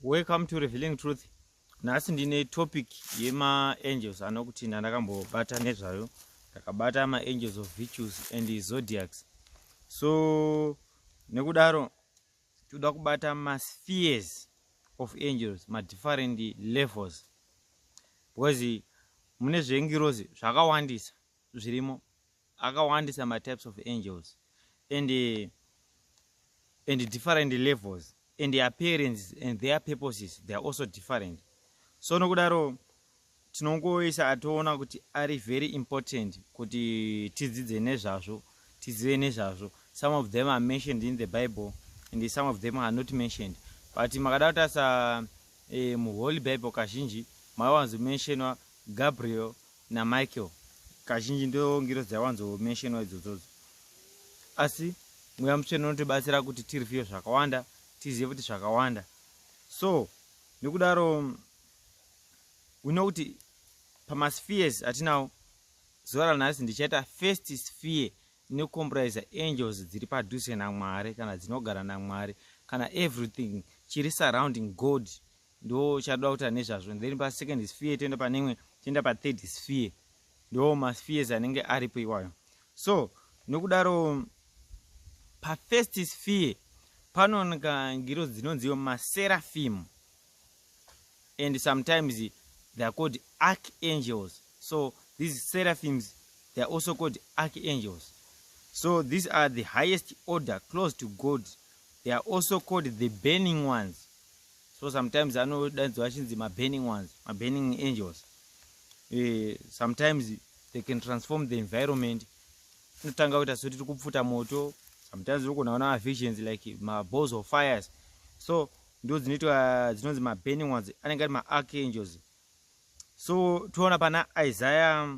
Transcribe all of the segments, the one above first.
welcome to revealing truth nhasi ndine topic yemaangels anokuti ndandakambobata nezvayo ndakabata maangels of virtues and zodiacs so nekudaro toda kubata maspheres of angels madifferent levels because mune zvengirozi zvakawandisa zvirimo akawandisa ma types of angels and uh, and different levels and appearance and their purposes they are also different so nokudaro tinongoisa atoona kuti ari very important kuti tidzidze nezvazvo tizive nezvazvo some of them are mentioned in the bible and some of them are not mentioned but makada kutarisa eh, muholy bible kazhinji maiwanzomentionwa gabriel naMichael kazhinji ndiyo ngirozi yawanzo mentionwa idzodzodzo asi mweya mutsvene unotibatsira kuti tireviewe zvakawanda tizive kuti zvakawanda so nekudaro we know kuti pamaspheres atinawo zuva ranhasi ndichaita first sphere inokomprisa angels dziri padhuze namwari kana dzinogara namwari kana everything chiri surrounding god ndo chatoda kuita nezvazvo then pa second sphere toenda pane imwe toenda pa third sphere ndo ma spheres anenge aripo iwayo so nokudaro pa first sphere panooneka ngiro dzinonziwo maserafimu and sometimes they are called archangels so these seraphims they are also called archangels so these are the highest order close to god they are also called the burning ones so sometimes anodaidzwa achinzi maburning ones maburning angels uh, sometimes they can transform the environment tinotanga kuita so tiri kupfuta moto sometimes urikugona kuona mavisions like maballs of fires so ndo dzinoitwa dzinonzi maburning ones anenge ari maarchangels so toona pana isaya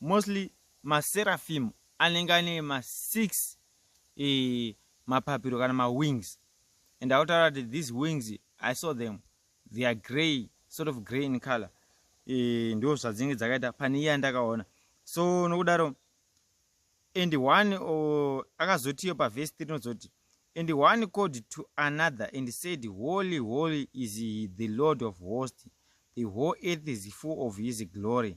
Mostly maseraphim anenge ane ma six eh, mapapiro kana ma wings and autaura kuti these wings i saw them they are grey sort of grey in color eh, ndo zvadzinenge dzakaita pane iye andakaona so nokudaro and one oh, akazotiyo pavhesi tiri nozoti and one called to another and said holy holy is the lord of host the whole earth is full of his glory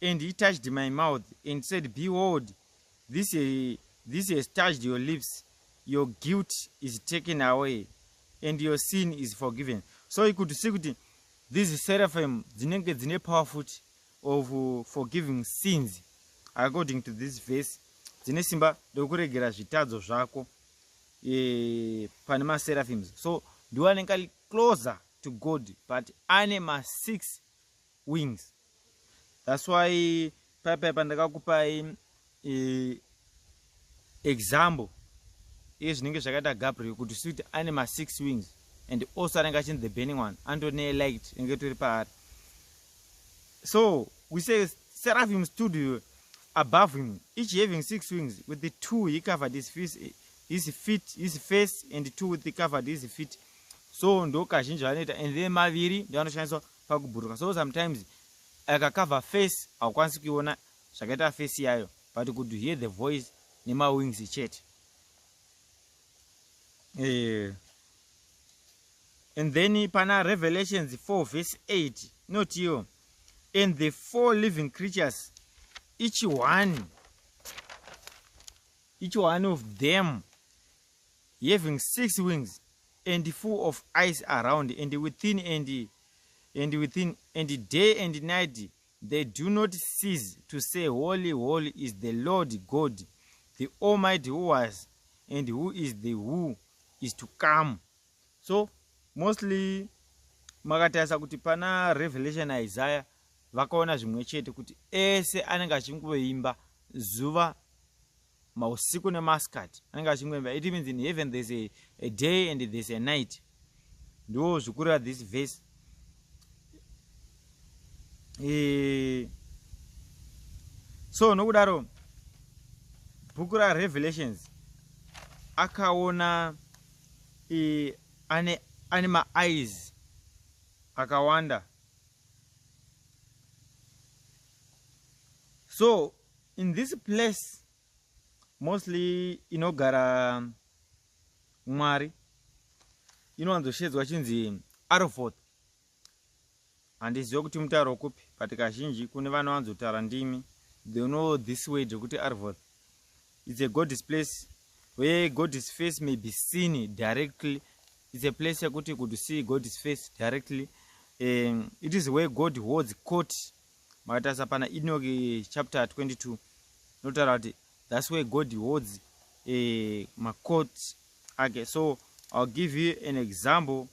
And he touched my mouth and said, Behold, this, he, this has touched your lips. Your guilt is taken away and your sin is forgiven. So you could see that these seraphim dzinenge dzine power foot of uh, forgiving sins according to this verse dzine simba rekuregera zvitadzo zvako e, pane maseraphims so ndiwo anenge closer to god but ane masix wings that's why pai pai pandakakupai eh, example iye zvinenge zvakaita gabriel kuti suti ane masix wings and also anenge achinzi the burning one anototi neelight inenge tori paari so we say seraphim studio above him each having six wings with the two he covered his face his feet his face and two with the covered his feet so ndo kazhinji vanoita and then maviri ndoanoshandiswa pakuburuka so sometimes aka cover face haukwanisi kuiona zvakaita face yayo but could hear the voice nemawings chete eh. and then pana revelations 4 verse 8 inotiwo and the four living creatures each one each one of them Having six wings and full of ice around and within and and within and day and night they do not cease to say holy holy is the lord god the almighty who was and who is the who is to come so mostly makatarisa kuti pana revelation isaya vakaona zvimwe chete kuti ese anenge achingoimba zuva mausiku nemasikati anenge achingoimba it means in heaven there's a, a day and there's a night ndiwo zvikurira this verse e... so nokudaro bhuku rarevelations akaona e, ane, ane maeyes akawanda so In this place mostly inogara mwari inowanzoshedzwa chinzi arofoth handizive kuti mutauro kupi but kazhinji kune vanowanzotaura ndimi they know this word rekuti arvoth its a godis place where godis face may be seen directly its a place yekuti could see godis face directly um, it is where god holds court Makatarisa pana Enoch eh, chapter 22 notaura kuti that's where God holds eh, macourt ake so I'll give you an example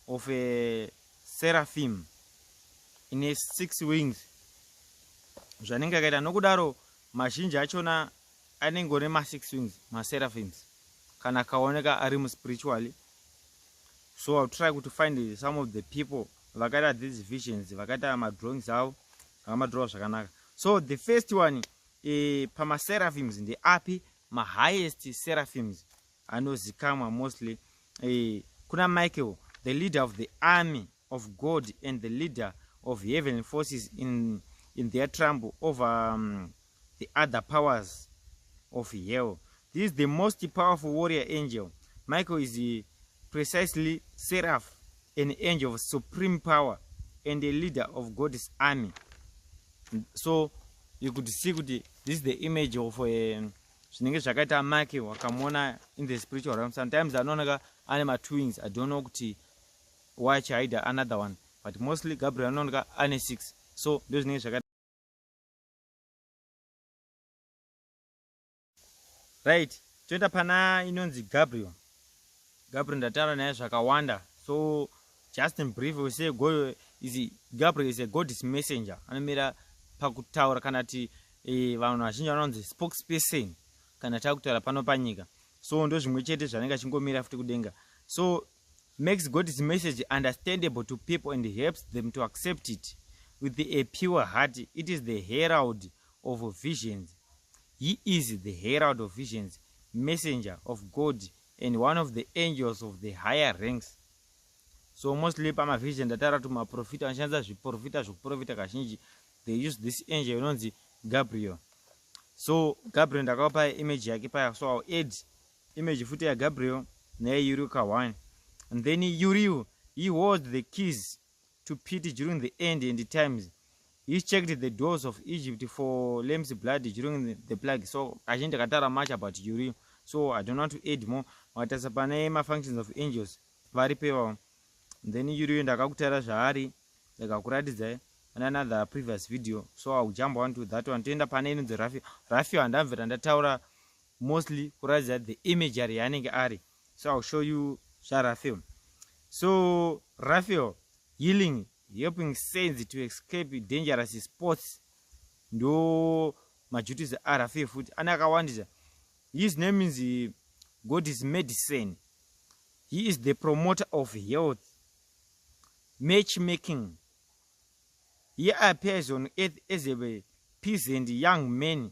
of a seraphim in a six wings zvanenge akaita nokudaro mazhinji achona anenge one masix wings maseraphims kana akaoneka ari muspiritually so I'll try to find some of the people vakaita these visions vakaita madrawings avo vakamadrowa zvakanaka so the first one e, pamaseraphims ndeapi mahighest seraphims anozikamwa mostly e, kuna michael the leader of the army of god and the leader of heavenly forces in, in their trumble over um, the other powers of hell this is the most powerful warrior angel michael is precisely seraph an angel of supreme power and a leader of god's army so you could see kuti this is the image of eh, zvinenge zvakaita make wakamuona in the spiritual realm sometimes anooneka ane matwins i don't know kuti why chihida another one but mostly gabriel anooneka ane six so ndozvinenge zvakaita right toenda pana inonzi gabriel gabriel ndataura naye zvakawanda so just in brief we say go is gabriel is a godis messenger anomira pakutaura kana ti e, vanhu vazhinji vanonzi spokesperson kana takutaura pano panyika so ndozvimwe chete zvanenge achingomira futi kudenga so makes God's message understandable to people and helps them to accept it with a pure heart. It is the herald of visions. He is the herald of visions, messenger of God, and one of the angels of the higher ranks. So mostly pamavision ndatara kuti maprofita anoshandisa zviprofita zvekuprofita kazhinji they use this angel inonzi Gabriel. So Gabriel ndakakupa image yake paya so I'll add Image futi ya Gabriel naye Yuriu Kahwani and then Yuriu he holds the keys to Pete during the end and the times he checked the doors of Egypt for lamb's blood during the, the plague so kazhinji takatara much about Yuriu so I don't want to add more wakatasa pane ma functions of angels vari pevavo then Yuriu ndakakutara zvaari ndikakuratidzai like, on another previous video so i will jump on to that one toenda pane inonzi rafio rafio handamvera ndataura mostly kuratidza the imagery yaanenge ari so ill show you zvarafel so rafel healing helping saints to escape dangerous sports ndo majutis arafel futi ane akawandisa his name is eh, god is medicine he is the promoter of health match making he appears on earth as a peasant young man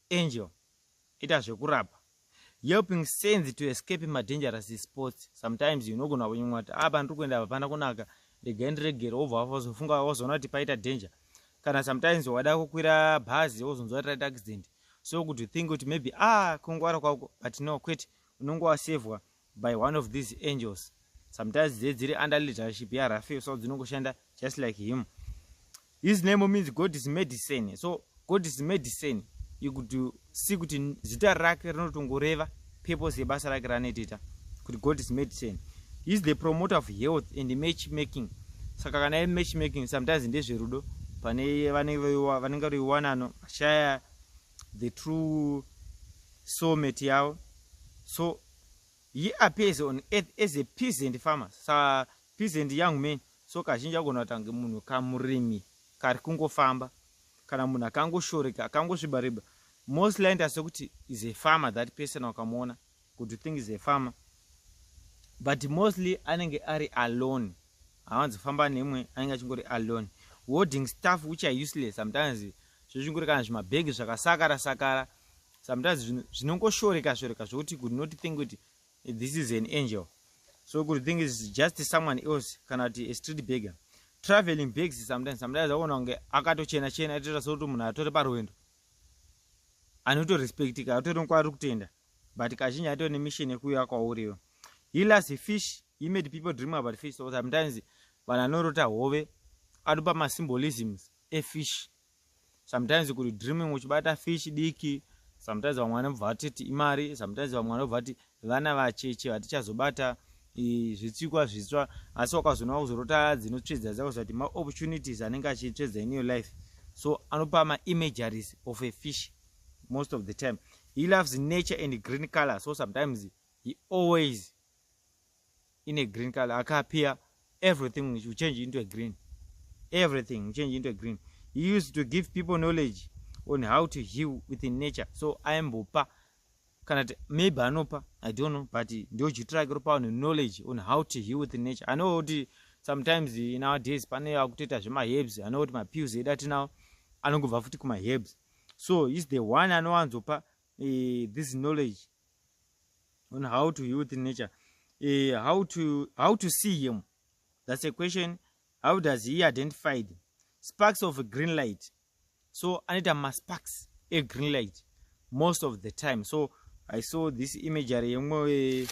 Angel ita zvekurapa helping saints to escape madangerous sports sometimes unogona kunyumwa kuti apa ah, ndiri kuenda hapana kunaka regai ndiregere wobva wazofunga wazoona kuti paita danger kana sometimes wada kukwira bhazi wozonzwa kuti raita accident so kuti think kuti maybe ah kungwara kwako but no kwete unonge wasevhwa by one of these angels sometimes dze dziri under leadership yarafael so dzinongoshanda just like him his name means god is medicine so god is medicine ikuti si kuti zita rake rinotongoreva purpose yebasa rake ranoitita kuti god is medicine heis the promoter of health and match making saka kana ye match making sometimes ndezverudo pane vanenge vaiwanano vashaya the true soulmate yavo so He appears on earth as a peasant farmer, sa peasant young man, so kazhinji agona kuita kunge munhu kamurimi kari kungofamba kana munhu akangoshoreka akangosviba riba. Most likely ndasi kuti is a farmer that person wakamuona kuti think is a farmer but mostly anenge ari alone hawanzi famba nemwe anenge achingori alone holding stuff which are useless sometimes zvezvingori kana zvimabhegi zvakasakara sakara sometimes zvinhu zvinongoshoreka shoreka zvokuti could not think kuti this is an angel so could think is just someone else kana kuti a street begger traveling bags sometimes sometimes akuona kunge akatochena chena aitoita sokuti munhu atore parwendo anotorespectika atori nokwaari kutenda but kazhinji atori nemission yekuuya kwauriwo he las a fish he made people dream about fish so sometimes vanhu anorota hove anopa masymbolisms efish sometimes kuri dreaming uchibata fish diki sometimes vamwe vanobva vatiti imari sometimes vamwe vanobva vati vana vacheche vatichazobata zvitsikwa zvitsva asi wakazoona kuzorota dzinotsvedza dzakuziva kuti maopportunities anenge achitsvedza in your life so anopa maimageries of a fish most of the time he loves nature and green color so sometimes he always ine green color akapia everything will change into a green everything will change into a green he used to give people knowledge on how to heal within nature so aimbopa kana ti maybe anopa i don't know but ndiochiitira ake ropa vanhu knowledge on how to heal within nature anoa kuti sometimes in our days pane akutoita zvemaherbs anoa kuti mapills edu atinawo anongobva futi kumaherbs so is the one anowanzopa uh, this knowledge on how to heal with nature uh, how to how to see him that's a question how does he identify them? sparks of green light so anoita masparks egreen light most of the time so i saw this imagery yemwe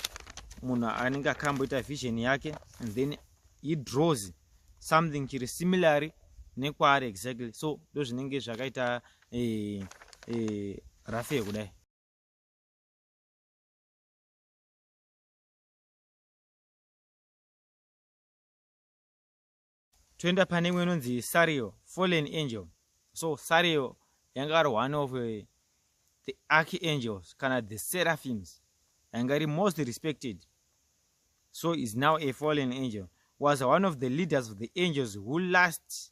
munhu anenge akamboita vision yake and then he draws something chiri similarly nekwaari exactly so ndozvinenge zvakaita Eh, eh, rafe kudai. Toenda pane imwe inonzi Sario, Fallen Angel. So Sario yanga ari one of uh, the archangels kana the seraphims yanga iri most respected. So is now a fallen angel. Was one of the leaders of the angels who last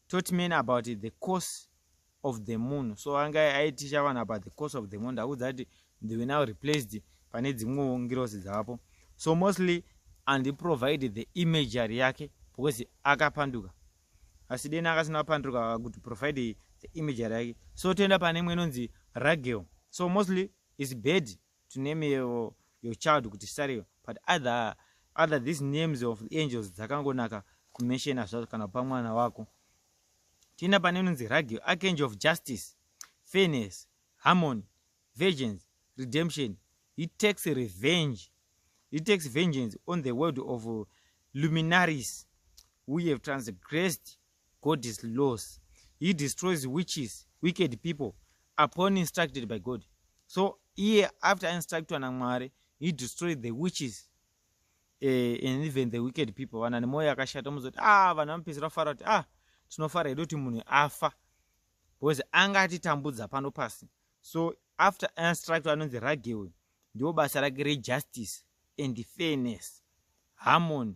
taught men about the course of the moon so anga aiticha vanhu about the course of the moon ndakuudza kuti they were now replaced pane dzimwewo ngirozi dzavapo so mostly andiprovide the imagery yake because akapanduka asi deni akasina apanduka kuti provide the imagery yake so toenda pane imwe inonzi ragel so mostly is bed to name your, your child kuti sario but other, other these names of angels dzakangonaka kumenshena zvazo kana kupa mwana wako tiina pane inonzi ragio archangel of justice fairness harmony virgins redemption he takes revenge he takes vengeance on the world of luminaries we have transgressed God is laws. He destroys witches, wicked people upon instructed by God. So here after instructed na Mwari, he destroyed the witches uh, and even the wicked people. Vana nemoyo yakashata muzoti ah vanhu vanopedzera fara kuti ah tinofara hedu kuti munhu afa because anga atitambudza pano pasi. So after instructed anonzi ragewe ndiwo basa rake rejustice and fairness, harmony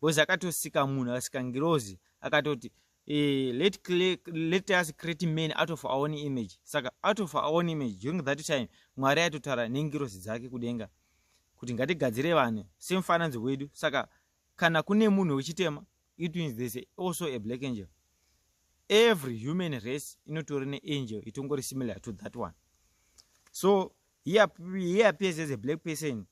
because akatosika munhu akasika ngirozi akatoti eh, let, let us create man out of our own image saka out of our own image during that time mwari aitotaura nengirozi dzake kudenga kuti ngatigadzire vanhu semufananidzo wedu saka kana kune munhu wechitema it means there's also a black angel every human race inotori neangel itongori similar to that one so he appears as a black person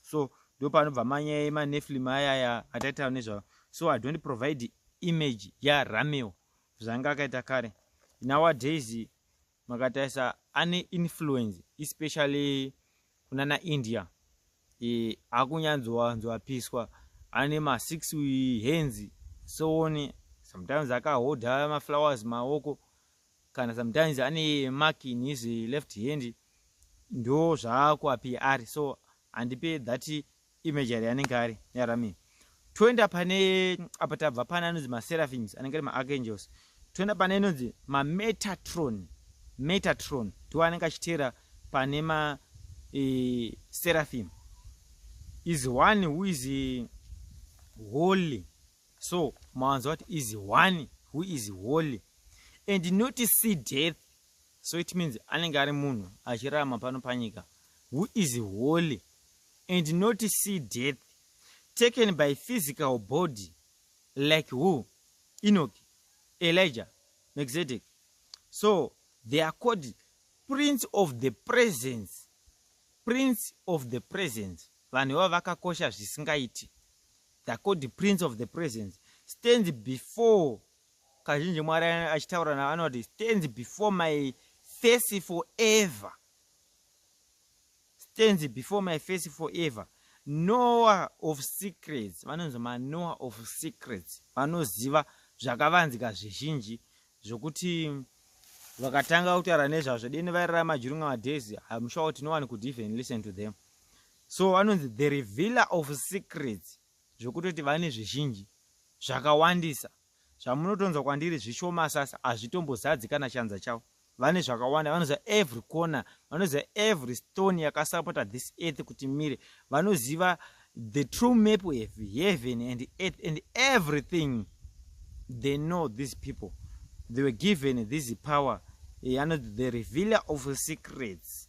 so ndopanobva manyaya emaneflim ayaya ataitawo nezvavo so i don't provide image yarameo zvaanga akaita kare nowadays makatarisa ane influence especially kunana india e, akunyanzowanzoapiswa ane masix hands soone sometimes akahodha maflowers maoko kana sometimes ane mark in his left hand ndo zvaakuapi ari so handipe that imagery anenge ari yarami toenda pane apa tabva pane anonzi maseraphins anenge ari maarchangels toenda pane inonzi mametatron metatron ndiwo anenge achiteera pane ma e, seraphim is one who is holy so mawanzwa kuti is one who is holy and not see death so it means anenge ari munhu achirarama pano panyika who is holy and not see death taken by physical body like who enoch elijah mexedek so they are called prince of the presence prince of the presence vanhu iva vakakosha zvisingaiti The called prince of the presence stands before kazhinji mwari achitaura navo anoti stands before my face forever stands before my face forever noah of secrets vanonzi manoah of secrets vanoziva zvakavanzika zvizhinji zvokuti vakatanga kutaura nezvazvo deni vairara majurunga madays hamushawo tinowani could even listen to them so vanonzi the revealer of secrets zvekutoti vane zvizhinji zvakawandisa zvamunotonzwa kwandiri zvishoma sasa hazvitombozadzi kana chanza chavo vane zvakawanda vanoziva every corner vanoziva every stone yakasapota this earth kuti mire vanoziva the true map of heaven and earth and everything they know these people they were given this power eh, anoti the revealer of secrets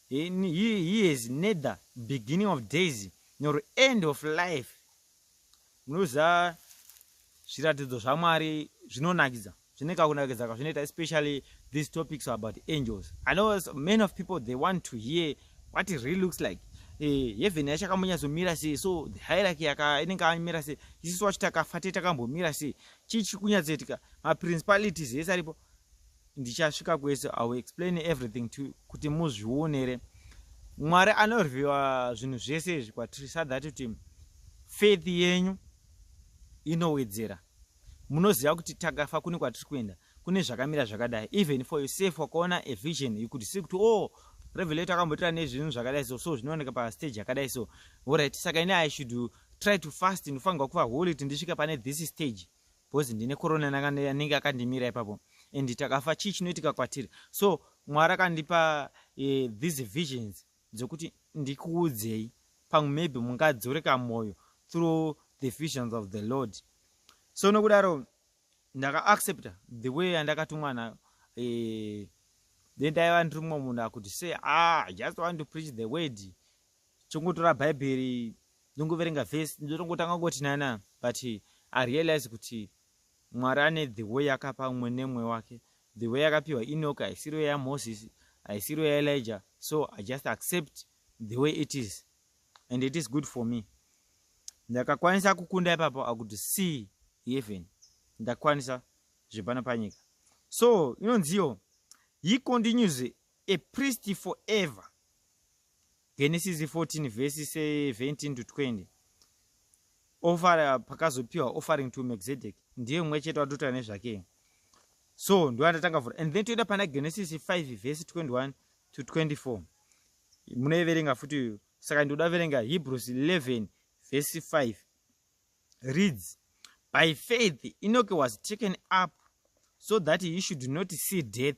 He, he, he has neither beginning of days nor end of life. Munoziva zviratidzo zvaMwari zvinonakidza zvine kakunakidza kazvinoita especially these topics about angels. I know many of people they want to hear what it really looks like. Eh, heaven yacho akambonyatsomira sei so the hierarchy inenge amira sei isisu wacho takafa te takambomira sei chii chiri kunyatsoitika maprincipalities ese aripo ndichasvika kwese i will explain everything to kuti muzvionere mwari anorwiwa zvinhu zvese izvi kwatiri sa that kuti faith yenyu inowedzera munoziva kuti takafa kune kwatiri kuenda kune zvakamira zvakadai even for yourself wakaona a vision you could see kuti o oh, revelato akambotira nezvinhu zvakadai so so zvinooneka pastage yakadai so orit saka ini i should try to fast ndinofanirwa kuva holy kuti ndisvike pane this stage because ndine corona nakande anenge akandimira ipapo and takafa chii chinoitika kwatiri so mwari akandipa eh, these visions dzekuti ndikuudzei pamwe maybe mungadzoreka mwoyo through the visions of the lord so nokudaro ndakaaccepta the way yandakatumwa nayo eh, then ndaiva ndiri mumwe munhu akuti say ah just want to preach the word Chongotora Bhaibheri ndongoverenga vhesi ndotongotanga kungoti nana but i realize kuti mwari ane the way yakapa umwe nemwe wake the way yakapiwa enoki haisiriyo yamoses haisiriyo yaelijah so i just accept the way it is and it is good for me ndakakwanisa kukunda ipapo i could see heaven ndakwanisa zvepano panyika so inonziyo he continues a priest forever genesis 14 vhesi 17 to 20 offer pakazopiwa offering to mexedek ndiye mumwe chete watotaura nezvake so ndoandatanga vhura and then toenda pana genesis 5 vhesi 21 to 24 munoiverenga futi saka ndoda kuverenga hebrews 11 vhesi 5 reads by faith enoke was taken up so that he should not see death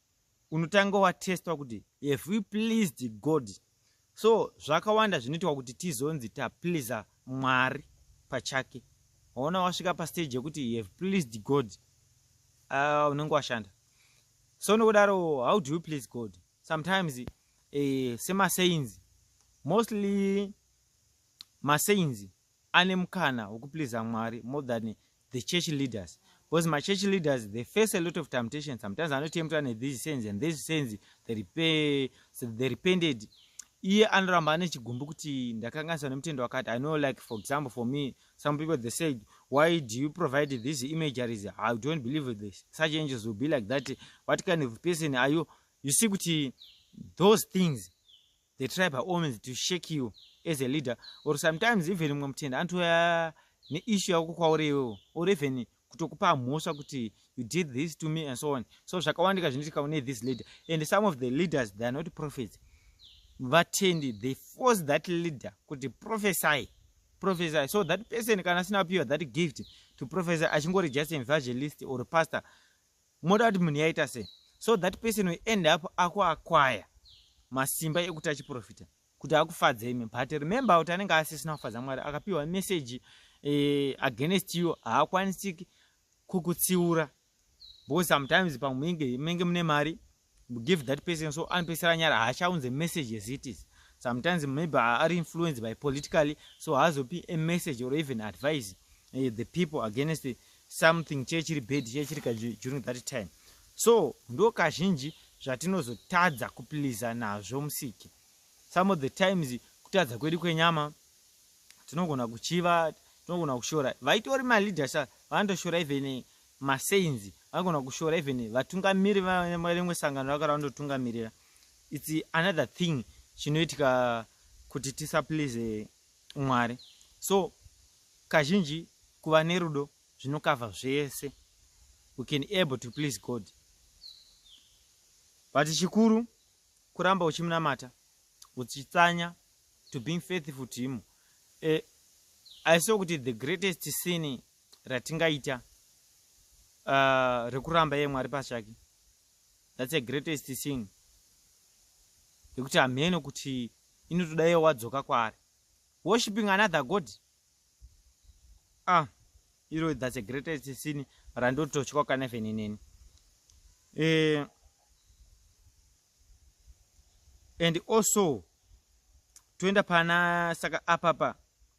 unotanga watestwa kuti have we pleased god so zvakawanda zvinoitwa kuti tizonzi tapleasa mwari pachake waona wasvika pastage yekuti you have pleased god ah, unenge uh, washanda so nokudaro how do you please god sometimes uh, eh, semasainzi mostly masainzi ane mukana wekupleaser Mwari more than the church leaders because ma church leaders they face a lot of temptation sometimes anotemtwa ne these sins and these sins they repay so they repented iye anoramba ane chigumbu kuti ndakanganiswa nemutendo wakati i know like for example for me some people they said why do you provide these imageries i don't believe this such angels will be like that what kind of person are you you see kuti those things they try by all means to shake you as a leader or sometimes even mumwe mutenda anotouya neissue yako kwauri iwewo or even kutokupa mhosva kuti you did this to me and so on so zvakawandika zvinoitika une this leader and some of the leaders they are not prophets vatendi they force that leader kuti prophesy prophesy so that person kana asina kupiwa that gift to prophesy achingori just evangelist or pastor moda kuti munhu yaita se so that person will end up akuakwaya masimba ekuti achiprofita kuti akufadze imi but remember kuti anenge asisina kufadza mwari akapiwa meseji eh, against you haakwanisiki kukutsiura because sometimes pamwinge menge mune mari give that person so anopesera nyara haachaunze message as it is sometimes maybe ari influenced by politically so haazopi a message or even advise uh, the people against something chee chiri bad chee chiri kaji during that time so ndo kazhinji zvatinozotadza kupiliza nazvo musiki some of the times kutadza kwedu kwenyama tinogona kuchiva tinogona kushora vaitori maleaders vanotoshora even masaints vanogona kushora even vatungamiri varimwe sangano rakara vandotungamirira its another thing chinoitika kuti tisaplease mwari so kazhinji kuva nerudo zvinokavha zvese we can able to please god but chikuru kuramba uchimunamata uchitsanya to being faithful to him eh, aiso kuti the greatest sin ratingaita uh, rekuramba iye mwari pachake thats a greatest thing yekuti hamheno kuti inotoda iye wadzoka kwaari worshipping another god ah iro thats a greatest sin randototyoka kana even ineni eh, and also toenda pana saka apapa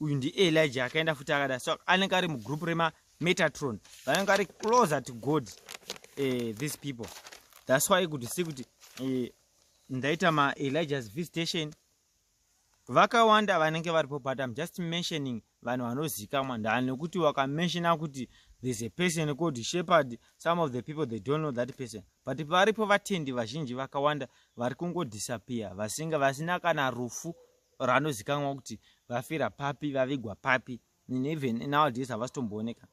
uyu ndielija akaenda futi akada so anenge ari mugroup rema metatron vanenge ari closer to god uh, these people thats why kuti si kuti uh, ndaita maelijahs visitation vakawanda vanenge varipo but im just mentioning vanhu vanozikamwa ndaa nekuti wakamenshona kuti there's a person called shepherd some of the people they don't know that person but varipo vatendi vazhinji vakawanda vari kungodisappear vasinga vasina kana rufu ranozikanwa kuti vafira papi vavigwa papi and even nowadays havasitombooneka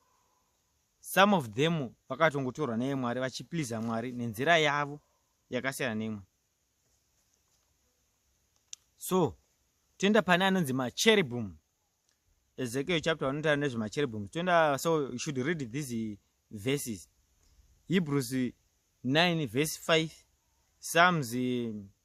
some of them vakatongotorwa neye mwari vachipliza mwari nenzira yavo yakasiyana neimwe so toenda pane anonzi macheribum ezekiel chapter vanotaura nezvemacheribum toenda so you should read these verses hebrews 9 verse 5 psalms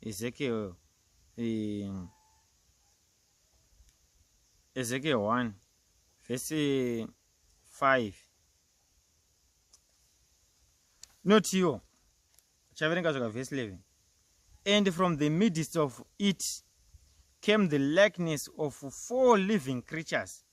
Ezekiel um, Ezekiel 1 verse 5 notiwo chaverenga zvaka verse 11 and from the midst of it came the likeness of four living creatures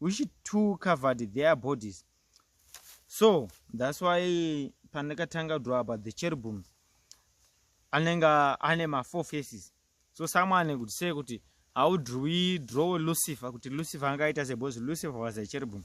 which two covered their bodies so thats why pandakatanga draw about the cherubim anenge ane mafour faces so someone could say kuti how do we draw lucifer kuti lucifer angaita se because lucifer was a cherubim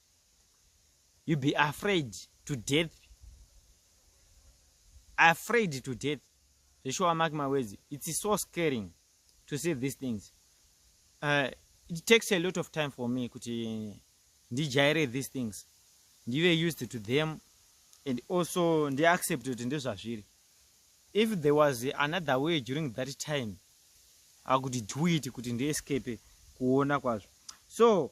you be afraid to death afraid to death zveshuwa mark my words it's so scaring to see these things uh, it takes a lot of time for me kuti ndijaire these things ndive used to them and also ndiaccept kuti ndezvazviri if there was another way during that time akuti do it kuti ndiescape kuona kwazvo so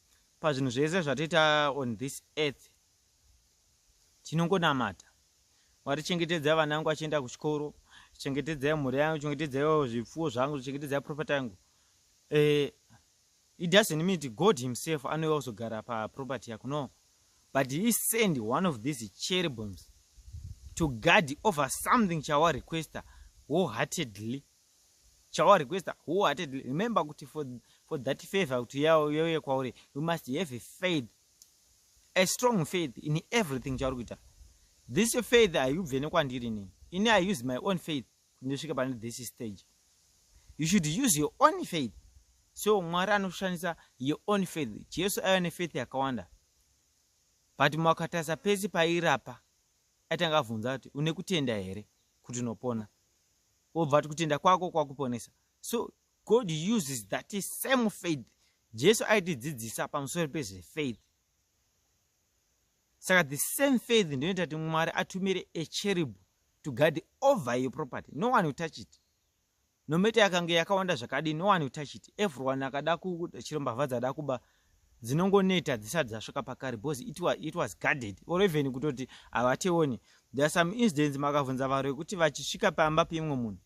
Pazvinhu zvese zvatoita on this earth tinongonamata mwari chengetedzai vana vangu vachienda kuchikoro chengetedzai mhuri yangu chengetedzai zvipfuwo zvangu chengetedzai property yangu eh, it doesn't mean god himself anouya kuzogara paproperty yako no but he send one of these cherebims to guard over something chawarequesta wholeheartedly chawa requester wholeheartedly remember kuti for, for that favor kuti yauye kwauri you must have a faith a strong faith in everything chauri kuita this your faith haibve nekwandiri ini ini i use my own faith kuti ndisvike pane this stage you should use your own faith so mwari anoshandisa your own faith jesu aiva nefaith yakawanda but makatarisa pese pairapa aitanga avhunza kuti une kutenda here kuti unopona wobva ati kutenda kwako kwakuponesa so god uses that same faith jesu aitidzidzisa pamusoro pezvefaith saka the same faith ndinoita kuti mwari atumire echeribu to guard over your property no one touch it nomete yakange yakawanda zvakadi no one touch it everyone akada kuchiro mbavha dzada kuba dzinongoneta dzisati dzasvika pakare because it was, it was guarded or even kutoti havateone there are some incidents makavhunza varo yekuti vachisvika pamba peimwe munhu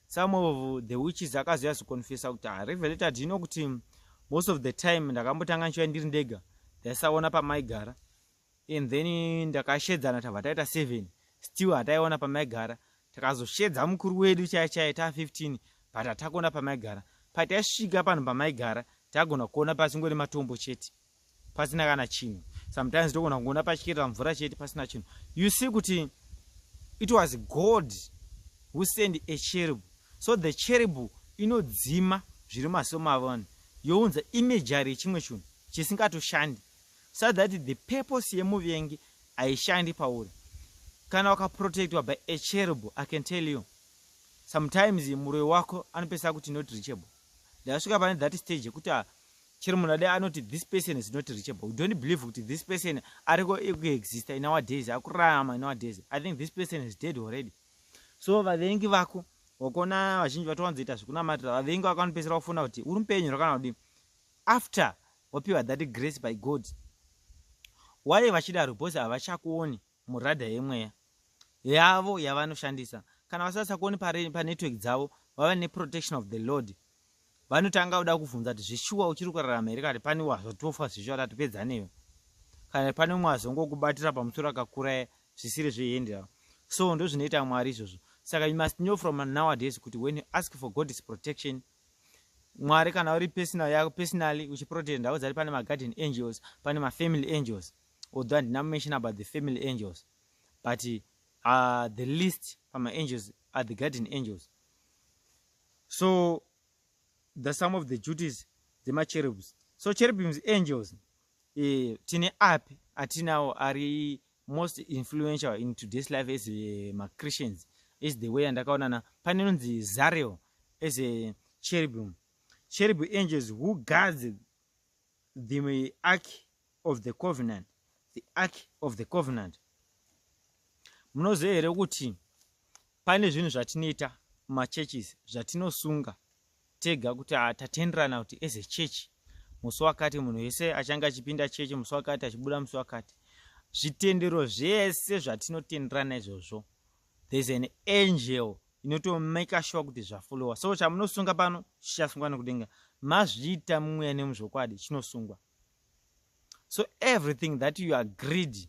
some of the witches akazoya zoconfesa kuti ah, revelated you know kuti most of the time ndakambotanga nchiva ndiri ndega ndaisaona pamaigara and then ndakashedzana tabva taita seven still hataiona pamaigara takazoshedza mukuru wedu chai chai ta 15 but hatakuona pamaigara pataisvika panhu pamaigara tagona kuona pasingori matombo chete pasina kana chinhu sometimes togona kuona pachikirira mvura chete pasina chinhu you see kuti it was god who send a cherub so the cherub inodzima zviri maso mavanhu younza imejari yechimwe chinhu chisingatoshandi so that the purpose yemuvengi haishandi pauri kana wakaprotectwa by a cherub i can tell you sometimes muroi wako anopesa kuti not reachable ndasvika pane that stage yekuti ah, chero munhu ade anoti this person is not reachable you don't believe kuti this person ariko ekuexista in our days akurarama in our days i think this person is dead already so vavengi vako wakuona vazhinji vatowanzoita zvekunamatira vavengi vako vanopesera kufona kuti uri mupenyu rakana kudii after Wapiwa that grace by God. Why vachidaro because havachakuoni muradha yemweya yavo yavanoshandisa. Kana vasasakuoni panetwork dzavo vava neprotection of the Lord. Vanotanga kuda kuvhunza kuti zveshuwa uchiri kurarama here kati pane wazvatofa zveshuwa tatopedza newe. Kana pane umwe azongokubatira pamusoro akakura zvisiri zvehendera. So ndozvinoita Mwari izvozvo. Saka you must know from nowadays kuti when you ask for God's protection mwari kana uri personal yako personally uchiprotect ndau dzari pane magarden angels pane mafamily angels although handina mention about the family angels but uh, the list pamaangels are the garden angels so the some of the duties dzemacherubs so cherubims angels eh, tine api atinawo ari most influential in today's life as eh, machristians is the way yandakaonana pane nonzi zarel as a cherubim cherub angels who guards the ark of the covenant the ark of the covenant munoziva here kuti pane zvinhu zvatinoita mumachurches zvatinosunga tega kuti ah, tatenderana kuti as a church musi wakati munhu wese achange achipinda chechi musi wakati achibuda musi wakati zvitendero zvese zvatinotenderana izvozvo there's an angel inotomake sure kuti zvafollowa so chamunosunga pano chichasungwa nekudenga mazviita mumweya nemuzvokwadi chinosungwa so everything that you agreed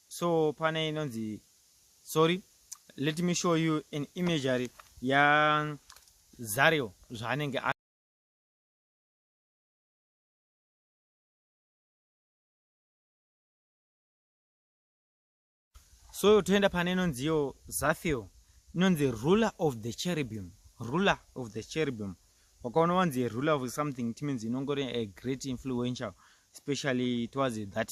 so pane inonzi sorry let me show you an imagery ya zario zvaanenge so toenda pane inonziyo zafio inonzi ruler of the cherubim ruler of the cherubim wakaona wanzi ruler of something it means inongori a great influential especially towards that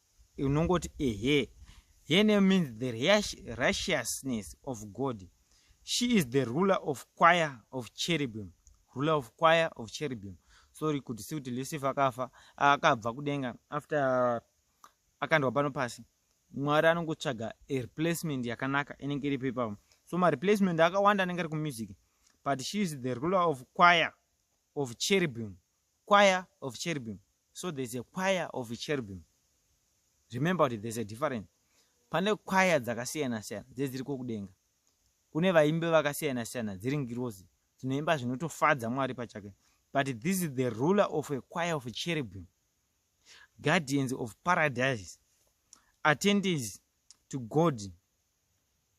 unongoti ehe her name means the righteousness of god she is the ruler of choir of cherubim ruler of choir of cherubim sorry kuti si kuti lucifer akafa akabva kudenga after akandwa pano pasi mwari anongotsvaga replacement yakanaka inenge iripo ipapo so mareplacement akawanda anenge ari kumusic but she is the ruler of choir of cherubim choir of cherubim so there's a choir of cherubim remember kuti there's a different pane choir dzakasiyana siyana dzedziri kokudenga kune vaimbi vakasiyana siyana dziri ngirozi dzinoimba zvinotofadza mwari pachake but this is the ruler of a choir of cherubim guardians of paradise attendees to god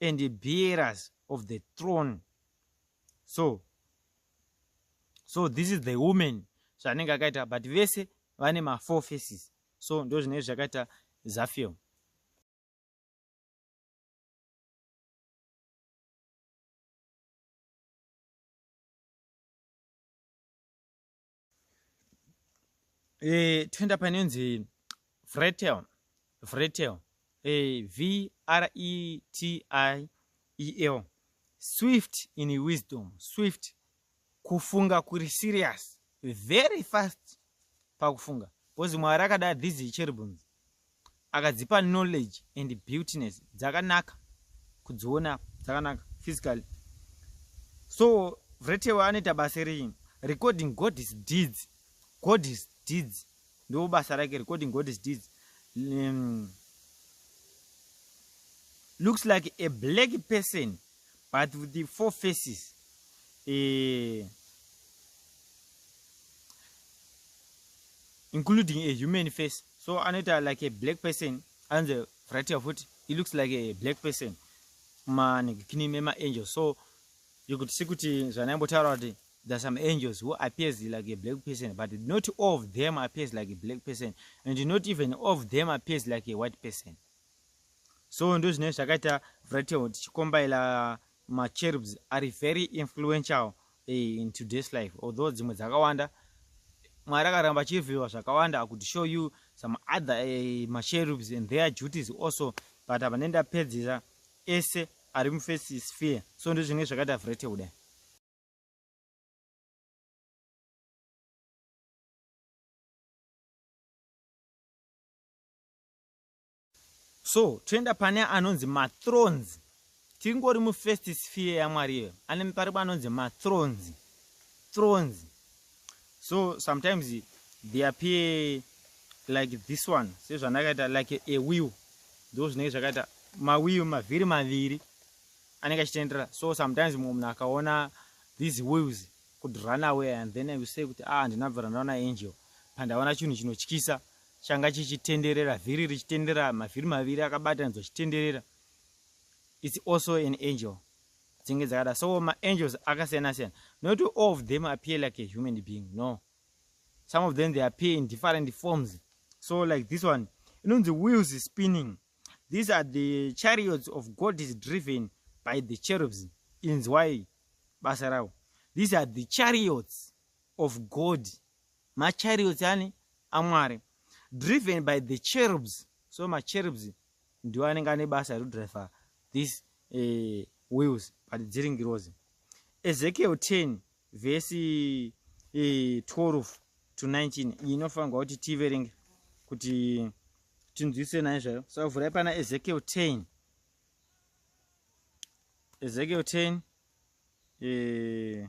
and bearers of the throne so so this is the woman zvanenge akaita but vese vane mafour faces so ndo zvinenge zvakaita zafilm e, toenda panenzi vretel vretel e, eh, v r e t i e l swift in wisdom swift kufunga kuri serious very fast pakufunga bcause mwari akada these cherubins akadzipa knowledge and beautiness dzakanaka kudziona dzakanaka physically so vretewe anoita basa rei recording god is deeds god is deeds ndo basa rake recording god is deeds um, looks like a black person but with the four faces eh, including a human face so anoita like a black person anze fratia futi he looks like a black person manegikini memaangel so you could see kuti zvanaimbotaura kuti there are some angels who appears like a black person but not all of them appears like a black person and not even all of them appears like a white person so ndo zvine zvakaita vratio tichikombaila Ma cherubs ari very influential eh, in today's life although dzimwe dzakawanda Mwari akaramba achirevhewa zvakawanda akuti show you some other eh, ma cherubs and their duties also but apa nenda pedzisa ese ari mu first sphere so ndozvinenge zvakaita vrete kudai so toenda pane anonzi mathrones tingori mufirst sphere yamwari iyoyo ane paripo anonzi mathrones thrones so sometimes they appear like this one sezvandakaita like a wheel ndo zvinenge zvakaita mawheel mavhiri maviri anenge achitendera so sometimes mumwe munhu akaona these wheels could run away and then i will say kuti ah ndinabvira ndaona angel pandaona chinhu chinotyisa changa chichitenderera vhiri richitenderera mavhiri maviri akabatanidzwa chitenderera its also an angel dzinge dzakada so maangels akasiyana siyana not all of them appear like a human being no some of them they appear in different forms so like this one inonzi wheels is spinning these are the chariots of god is driven by the cherubs inzwai basa ravo these are the chariots of god machariots ani amwari driven by the cherubs so macherubs ndiwo anenge ane basa rekudriver this uh, wheels but dziri ngirozi ezekiel 10 vhesi uh, eh, 12 to 19 iyi inofanirwa kuti tiverenge kuti tinzwise naye zvayo so vhurai pana ezekiel 10 ezekiel 10 uh, eh,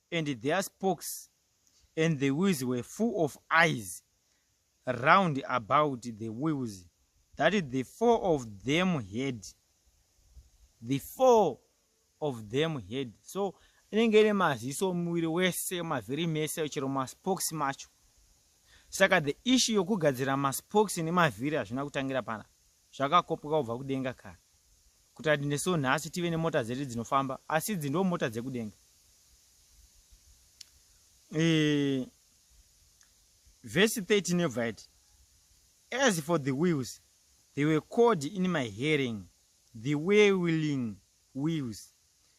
and their spokes and the wheels were full of eyes round about the wheels that the four of them had the four of them had so inenge ine maziso muviri wese mavhiri mese chero maspokes macho saka the issue yokugadzira maspokes nemavhiri hazvina kutangira pana zvakakopoka kubva kudenga kare kuti ati nesuwo nhasi tive nemota dzedu dzinofamba asi idzi ndo mota dzekudenga e, vhesi 13 yobva iti as for the wheels they were called in my hearing the way willing wheels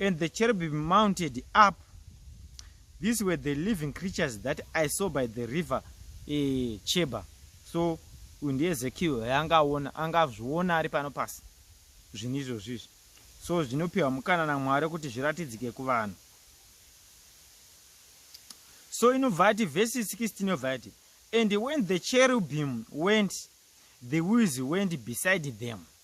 And the cherubim mounted up. These were the living creatures that I saw by the river eh, Cheba. So uyu ndiEzekiel yaanga aona, anga azviona ari pano pasi zvinhu izvozvo izvi. So zvinopiwa mukana naMwari kuti zviratidzike kuvanhu. So inobva ati verse 16 inobva yati and when the cherubim went the wheels went beside them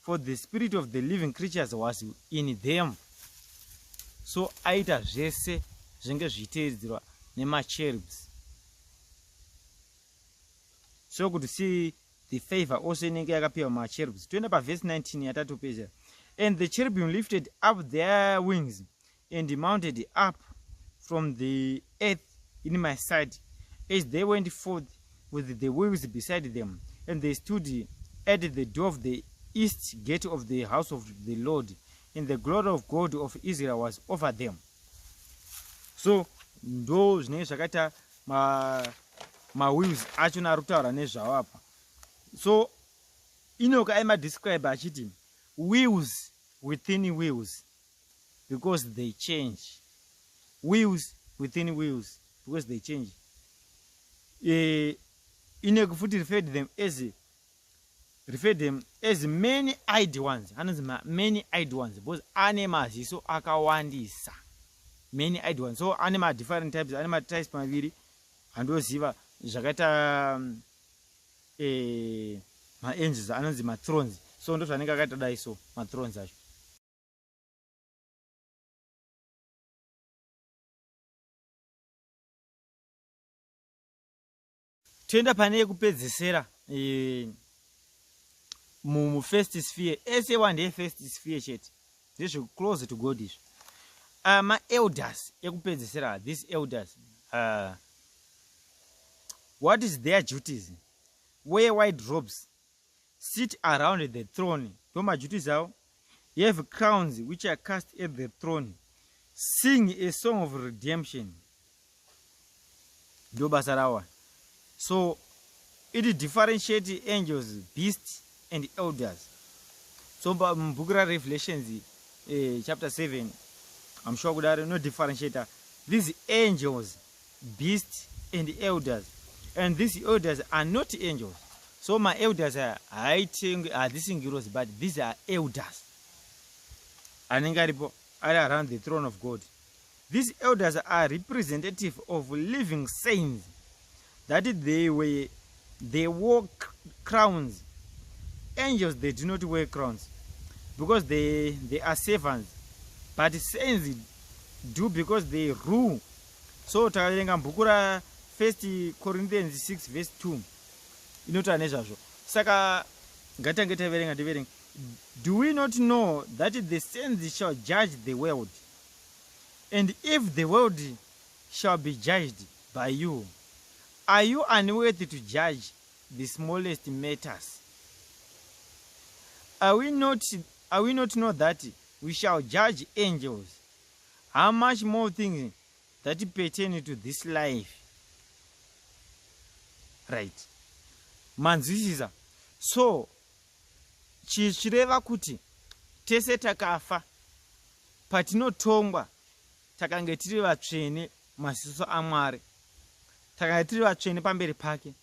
for the spirit of the living creatures was in them so aita zvese zvenge zvichiteedzerwa nemacherubs so kuti see the favor also inenge yakapiwa macherubs toenda pavhesi 19 yatatopedzera and the cherubim lifted up their wings and he mounted up from the earth in my sight as they went forth with the wheels beside them and they stood at the door of the east gate of the house of the lord and the glory of god of israel was over them so ndo zvinenge zvakaita mawheels ma acho naari kutaura nezvavo apa so inoka aimadescribe achiti wheels within wheels because they change wheels within wheels because they change uh, inegu futi referred them as referred them as many id ones anonzi many id ones because ane maziso akawandisa many id ones so ane madifferent types ane matypes maviri andoziva zvakaita um, eh, maangels anonzi matrons so ndozvanenge akaita dai so matrons acho toenda pane yekupedzesera eh, mufirst sphere ese wa ndeyefirst sphere chete ndezvekuclose to god izvo ah, maelders ekupedzesera these elders uh, what is their duties wear wide robes sit around the throne ndo maduties avo you have crowns which are cast at the throne sing a song of redemption ndo basa rawa so it differentiate angels beast and elders so mubhuku rarevelations eh, chapter 7 amshuwa kudaro no differentiate these angels beast and elders and these elders are not angels so maelders aya haitengwe hadzisi ngirozi but these are elders anenge aripo ari around the throne of god these elders are representative of living saints that they were They wore crowns. Angels, they do not wear crowns because they, they are servants. But saints do because they rule. So takaverenga bhuku ra 1 Corinthians 6 verse 2 inotaura nezvazvo. Saka ngatange taverenga tiverenga. Do we not know that the saints shall judge the world? And if the world shall be judged by you, Are you unworthy to judge the smallest matters? Are we not, are we not know that we shall judge angels? How much more things that pertain to this life? Right. Manzwisisa. So, chichireva kuti tese takafa patinotongwa takange tiri vatsvene maziso aMwari. Takanga tiri vatsvene pamberi pake.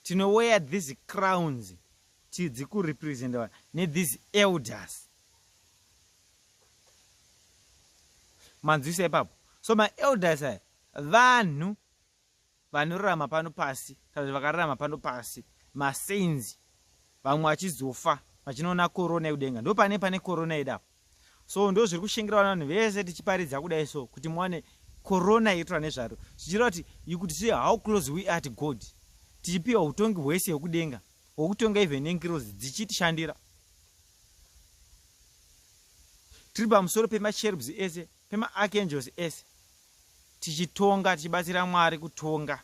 Tinoweya these crowns tidzi kurepresentwa nethese elders. Manzwisa ipapo. So maelders aya vanhu vanorarama pano pasi kana kuti vakararama pano pasi masainzi vamwe vachizofa vachinoona korona yekudenga ndo pane pane korona yedu apo so ndo zviri kushingirawo vanhu vese tichiparidza kudai so kuti muwane korona yetura nezvaro zvichira kuti you could see how close we are to god tichipiwa utongi hwese hwekudenga hwekutonga even nengirozi dzichitishandira tiri pamusoro pemacherubs ese pemaarchangels ese tichitonga tichibatsira mwari kutonga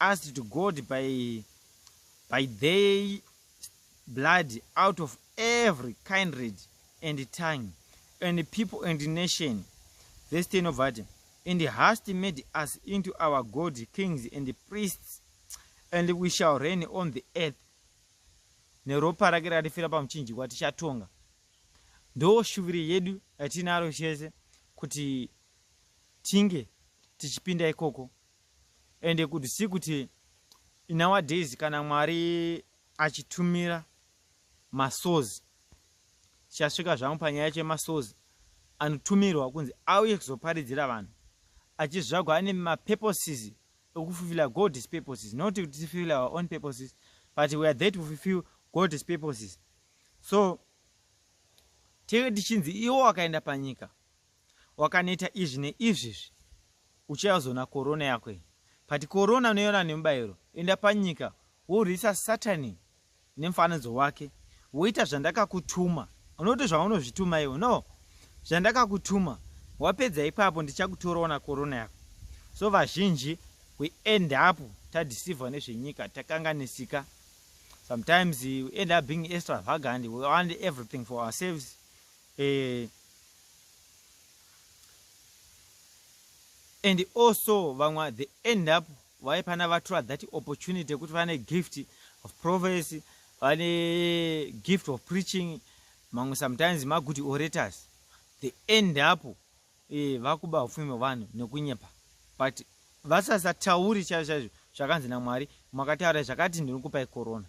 asked to God by, by their blood out of every kindred and tongue and people and nation. Verse 10 of Adam. And hast made us into our God kings and priests, and we shall reign on the earth. neropa rake ratifira pamuchinjikwa tichatonga ndo shuviro yedu yatinaro chese kuti tinge tichipinda ikoko ende kuti si kuti nowadays kana mwari achitumira masozi chasvika zvangu panyaya yacho yemasozi anotumirwa kunzi auye kuzoparidzira vanhu achizvagwa ane mapurposes ekufulfilla god's purposes not kuti tifulfilla our own purposes but weare there to fulfill god's purposes so tee tichinzi iwo wakaenda panyika wakaneta izvi neizvi izvi uchazona korona yako iyi but korona unoiona nemubayiro enda panyika worwisa satani nemufanidzo wake woita zvandakakutuma unoti zvaunozvituma iwo no zvandakakutuma wapedza ipapo ndichakutorawo na korona yako so vazhinji we end up tadisivha nezvenyika takanganisika sometimes we end up being extravagant we want everything for ourselves Eeh and also vamwe the end up vaipana vatora that opportunity yekuti vane gift of prophecy vane gift of preaching mamwe sometimes magood orators the end up eh, vakuba upfumi hwevanhu nekunyepa but vasasatauri chaizvo chaizvo zvakanzi namwari makataura zvakati ndinokupai corona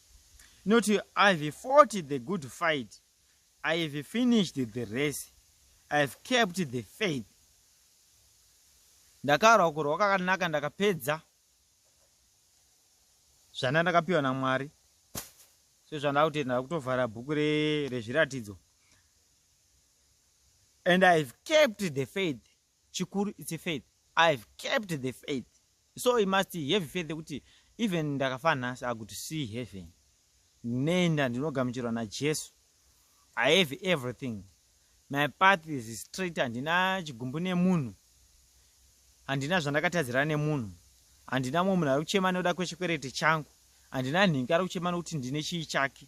not i've fought the good fight i've finished the race i've kept the faith ndakarwa kurwa kwakanaka ndakapedza zvanda ndakapiwa namwari so zvandava kutenda ndava kutovhara bhuku rezviratidzo and i've kept the faith chikuru its faith i have kept the faith so i must have faith yekuti even ndakafa nhasi i could see heaven ndinoenda ndinogamuchirwa najesu i have everything my path is straight handina chigumbu nemunhu handina zvandakatadzira nemunhu handina mumwe munhu ari kuchema nekuda kwechikwerete changu handina nhingi ari kuchema nekuti ndine chii chake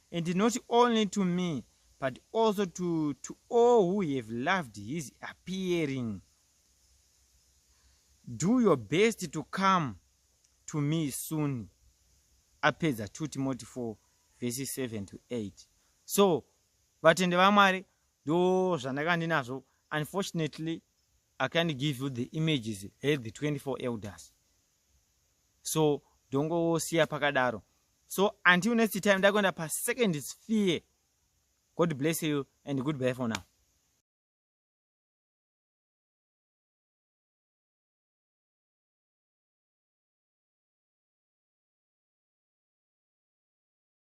And not only to me but also to, to all who have loved his appearing do your best to come to me soon apedza 2 timoti 4 vhesi 7 to 8 so vatende vamwari ndo zvandaka ndinazvo unfortunately i can't give you the images he the 24 elders so ndongosiya pakadaro so until next time ndakuenda pasecond sphere god bless you and good bye for now